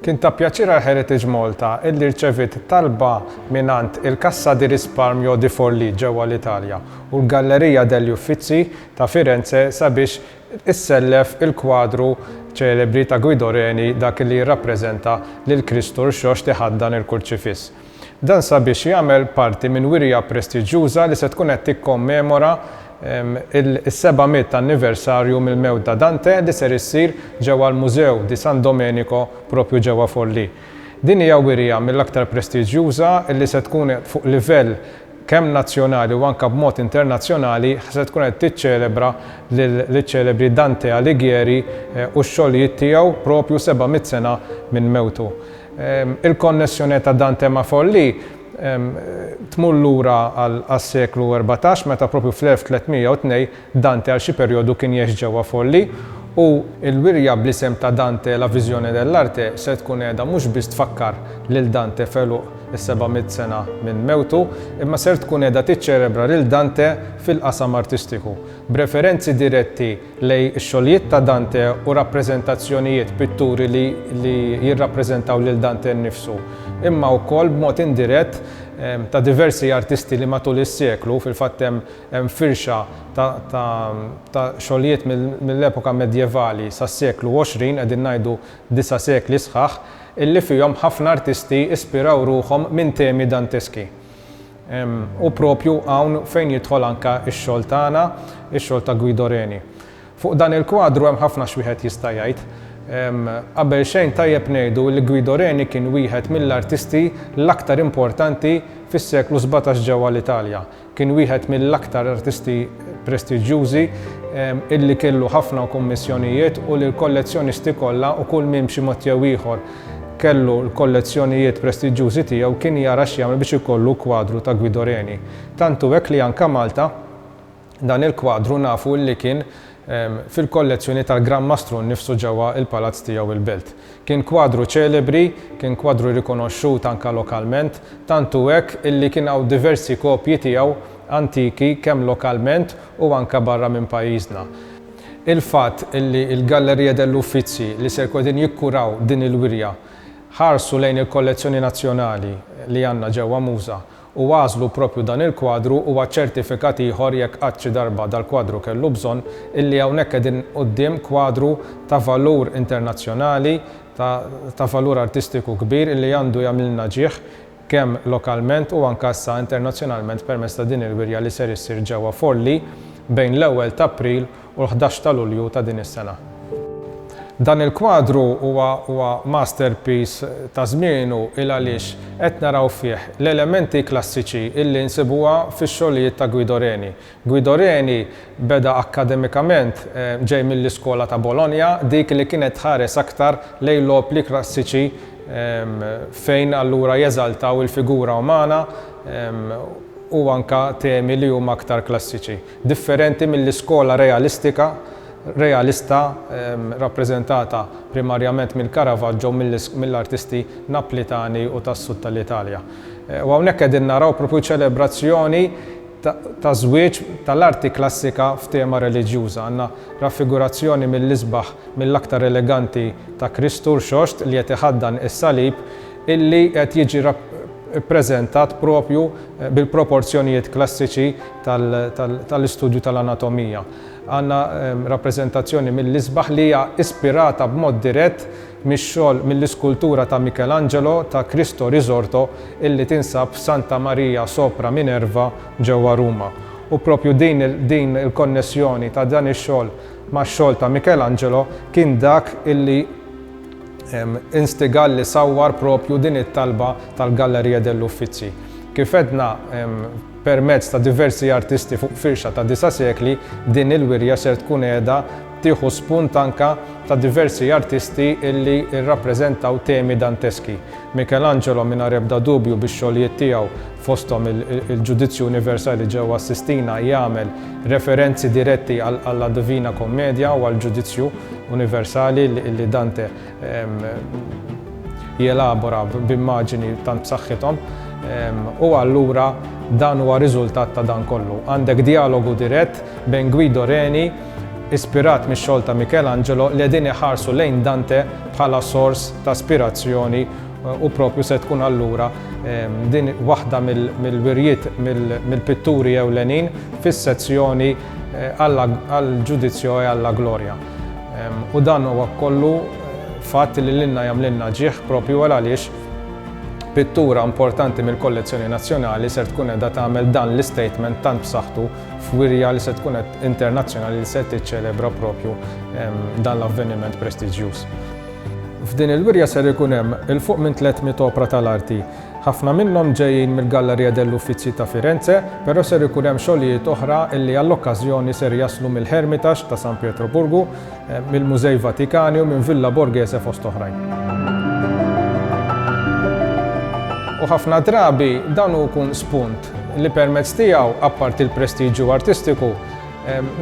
Kien ta' pjaċir għal Heritage Malta illi rċeviet talba mingħand il-Cassa di Risparmio di Forlì ġewwa l-Italja u l-Galleria degli Uffizi ta' Firenze sabiex issellef il-kwadru ċelebri ta' Guido Reni dak li jirrappreżenta lil Kristu rxoxt iħaddan il-Kurċifiss. Dan sabiex jagħmel parti minn wirja prestiġjuża li se tkun qed tikkommemora is-700 anniversarju mill-mewt ta' Dante li ser issir ġewwa l-Museu di San Domenico proprju ġewwa Forlì. Din hija wirja mill-aktar prestiġjuża li se tkun fuq livell kemm nazzjonali u anke b'mod internazzjonali, se tkun qed tiċċelebra liċ-ċelebri Dante Alighieri u x-xogħlijiet tiegħu proprju 700 sena minn mewtu. Il-konnessjone ta' Dante ma' Forlì tmur lura għas-seklu erbatax meta proprju fl-1302 Dante għal xi perjodu kien jgħix ġewwa Forlì u l-wirja bl-isem ta' Dante La visione dell'arte ser tkun qiegħda mhux biss tfakkar lil Dante f'għeluq is-seba' mitt sena minn mewtu imma ser tkun qiegħda tiċċelebra lil Dante fil-qasam artistiku b'referenzi diretti lejn ix-xogħlijiet ta' Dante u rappreżentazzjonijiet, pitturi li jirrappreżentaw lil Dante nnifsu imma wkoll b'mod indirett ta' diversi artisti li matul is-seklu, fil-fatt hemm Hemm firxa ta' xogħlijiet mill-epoka medjevali sas-seklu 20, qegħdin ngħidu disa' sekli sħaħ, illi fihom ħafna artisti ispiraw ruħhom minn temi danteski. U proprju hawn fejn jidħol anke x-xogħol tagħna, ix-xogħol ta' Guido Reni. Fuq dan il-kwadru hemm ħafna x'wieħed jista' jgħid. Qabel xejn tajjeb ngħidu li Guido Reni kien wieħed mill-artisti l-aktar importanti fis-seklu sbatax ġewwa l-Italja. Kien wieħed mill-aktar artisti prestiġjużi illi kellu ħafna kummissjonijiet u li l-kollezzjonisti kollha u kull min b'xi mod jew ieħor kellu l-kollezzjonijiet prestiġjużi tiegħu kien jara x'jagħmel biex ikollu kwadru ta' Guido Reni. Tant hu hekk li anke Malta dan il-kwadru nafu illi kien fil-kollezzjoni tal-Gran Mastru nnifsu ġewwa l-palazz tiegħu il-Belt. Kien kwadru ċelebri, kien kwadru rikonoxxut anke lokalment, tant hu hekk illi kien hawn diversi kopji tiegħu antiki kemm lokalment u anke barra minn pajjiżna. Il-fatt illi l-Galleria dell' Uffizi li ser ikunu qegħdin jikkuraw din il-wirja ħarsu lejn il-kollezzjoni nazzjonali li għandna ġewwa Muża u għażlu proprju dan il-kwadru huwa ċertifikat ieħor jekk qatt xi darba dal-kwadru kellu bżonn illi hawnhekk qegħdin quddiem kwadru ta' valur internazzjonali ta' ta' valur artistiku kbir illi għandu jagħmlilna ġieħ kemm lokalment u anke issa internazzjonalment permezz ta' din il-wirja li ser issir ġewwa Forli bejn l-ewwel t'April u l-ħdax ta' Lulju ta' din is-sena. Dan il-kwadru huwa huwa masterpiece ta' żmienu il għaliex qed naraw fih l-elementi klassiċi illi nsibuha fix-xogħlijiet ta' Guido Reni. Guido Reni beda akkademikament ġej mill-iskola ta' Bologna, dik li kienet tħares aktar lejn l-opri klassiċi fejn allura jeżaltaw il-figura umana u anke temi li huma aktar klassiċi. differenti mill-iskola realistika, realista, rappreżentata primarjament mill-Caravaggio u mill-artisti Naplitani u tas-Sud tal-Italja. U hawnhekk qegħdin naraw proprju ċelebrazzjoni taż-żwieġ tal-arti klassika f'tema reliġjuża. Għandna raffigurazzjoni mill-isbaħ mill-aktar eleganti ta' Kristu rxoxt li qed iħaddan is-salib, illi qed jiġi ppreżentat proprju bil-proporzjonijiet klassiċi tal-istudju tal-anatomija. Għandna rappreżentazzjoni mill-isbaħ li hija ispirata b'mod dirett mix-xogħol mill-iskultura ta' Michelangelo ta' Cristo Risorto illi tinsab f'Santa Maria Sopra Minerva ġewwa Ruma. U proprju din il-konnessjoni ta' dan ix-xogħol max-xogħol ta' Michelangelo kien dak illi Instigal li sawwar proprju din it-talba tal-Galleria dell'Uffizi. Kif għedna, permezz ta' diversi artisti fuq firxa ta' disa' sekli, din il-wirja ser tkun qiegħda tieħu spunt anke ta' diversi artisti illi rrappreżentaw temi danteski. Michelangelo, mingħajr ebda dubju, bix-xogħlijiet tiegħu, fosthom il-Ġudizzju Universali ġewwa Sistina, jagħmel referenzi diretti għall-La Divina Commedia u għall-Ġudizzju Universali li Dante jelabora b'immaġini tant b'saħħithom. U allura dan huwa riżultat ta' dan kollu. Għandek djalogu dirett bejn Guido Reni, ispirat mix-xogħol ta' Michelangelo, li qegħdin iħarsu lejn Dante bħala sors ta' ispirazzjoni u proprju se tkun allura din waħda mill-wirjiet mill-pitturi ewlenin fis-sezzjoni Al Giudizio e alla Gloria. U dan huwa kollu fatt li lilna jagħmlilna ġieħ proprju għal għaliex pittura importanti mill-kollezzjoni nazzjonali ser tkun qiegħda tagħmel dan l-istatement tant b'saħħtu f'wirja li se tkun qed internazzjonali li se tiċċelebra proprju dan l-avveniment prestiġjuż. F'din il-wirja ser ikun hemm 'il fuq minn 300 opra tal-arti. Ħafna minnhom ġejjin mill-Galleria dell' Uffizi ta' Firenze, però ser ikun hemm xogħlijiet oħra li għall-okkażjoni ser jaslu mill-Hermitage ta' San Pietroburgu, mill-Mużej Vatikani u minn Villa Borghese fost oħrajn. U ħafna drabi dan hu jkun spunt li permezz tiegħu, apparti l-prestiġju artistiku,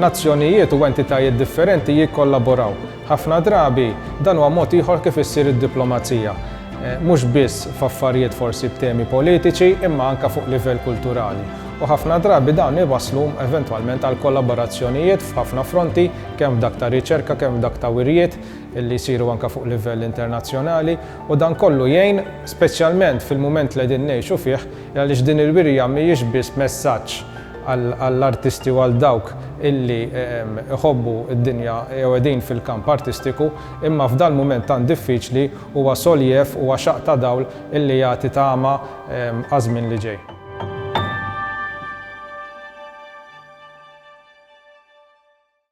nazzjonijiet u entitajiet differenti jikkollaboraw. Ħafna drabi dan huwa mod ieħor kif issir id-diplomazija, eh, mhux biss f'affarijiet forsi b'temi politiċi imma anke fuq livell kulturali. U ħafna drabi dawn iwasslu eventwalment għal kollaborazzjonijiet f'ħafna fronti kemm f'dak ta' riċerka kemm f'dak ta' wirjiet li jsiru anke fuq livell internazzjonali u dan kollu jgħin speċjalment fil-mument li qegħdin ngħixu fih għaliex din il-wirja mhijiex biss messaġġ għall-artisti u għal dawk illi jħobbu d-dinja jew qegħdin fil-kamp artistiku imma f'dal-mument tant diffiċli huwa soljiev huwa xaqq ta' dawl illi jagħti tama għaż-żmien li ġej.